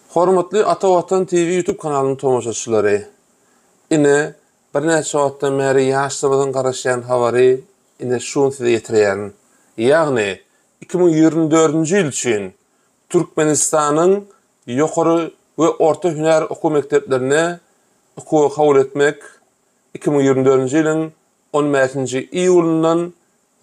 Hormatly Ata Watan TV YouTube kanalynyň tomaşaçylary! Ine, birnäçe wagtdan bäri ýaşlarymyzyň garaşýan habary ine şu gün size ýetirýärin. Ýagny, iki müň ýigrimi dördünji ýyl üçin Türkmenistanyň ýokary we orta hünär okuw mekdeplerine okuwa kabul etmek iki müň ýigrimi dördünji ýylyň on bäşinji iýulyndan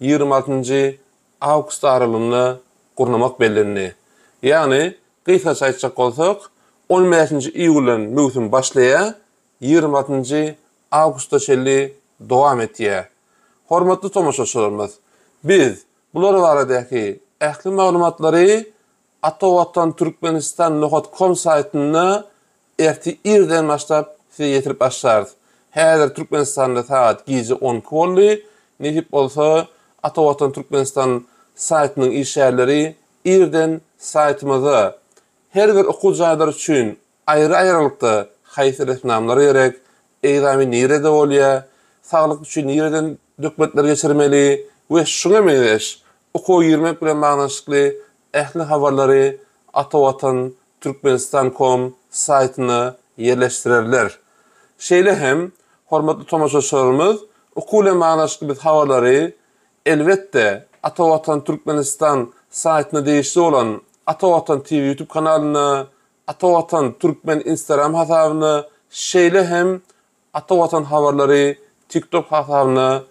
ýigrimi altynjy awgust aralygynda gurnamak bellendi. Ýagny, gysgaça aýtjak bolsak, on bäşinji iýuldan möwsüm başlaýar, ýigrimi altynjy awgusta çenli dowam etýär. Hormatly tomaşaçylarymyz, biz bular baradäki ähli maglumatlary Ata Watan Türkmenistan nohod kom saýtynda ertir irden başlap size ýetirip başlarys. Häzir Türkmenistanda sagat gije on iki boldy. Nesip bolsa Ata Watan Türkmenistan saýtynyň işgärleri irden saýtymyza her bir okuw jaýlar üçin Aýry-aýrylykda haýsy resminamlar gerek, egzamin nirede bolýa, saglyk üçin nireden dökmetler geçirmeli we şuňa meňzeş, okuwa girmek bilen baglanyşykly ähli habarlary Atavatan Türkmenistan kom saýtyna ýerleşdirerler. Şeýle hem, hormatly tomaşaçylarymyz, okuw bilen baglanyşykly biz habarlary, elbetde, Atavatan Türkmenistan saýtyna degişli bolan Atavatan TV ýutub kanalynda Atavatan Türkmen Instagram hasabynda, şeýle hem Atavatan Habarlary TikTok hasabyna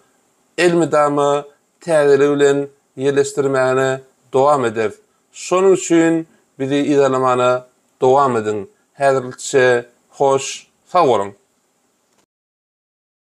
elmydama täzeligi bilen ýerleşdirmäne dowam ederis. Şonuň üçin bizi yzarlamana dowam ediň. Häzirlikçe hoş sag boluň!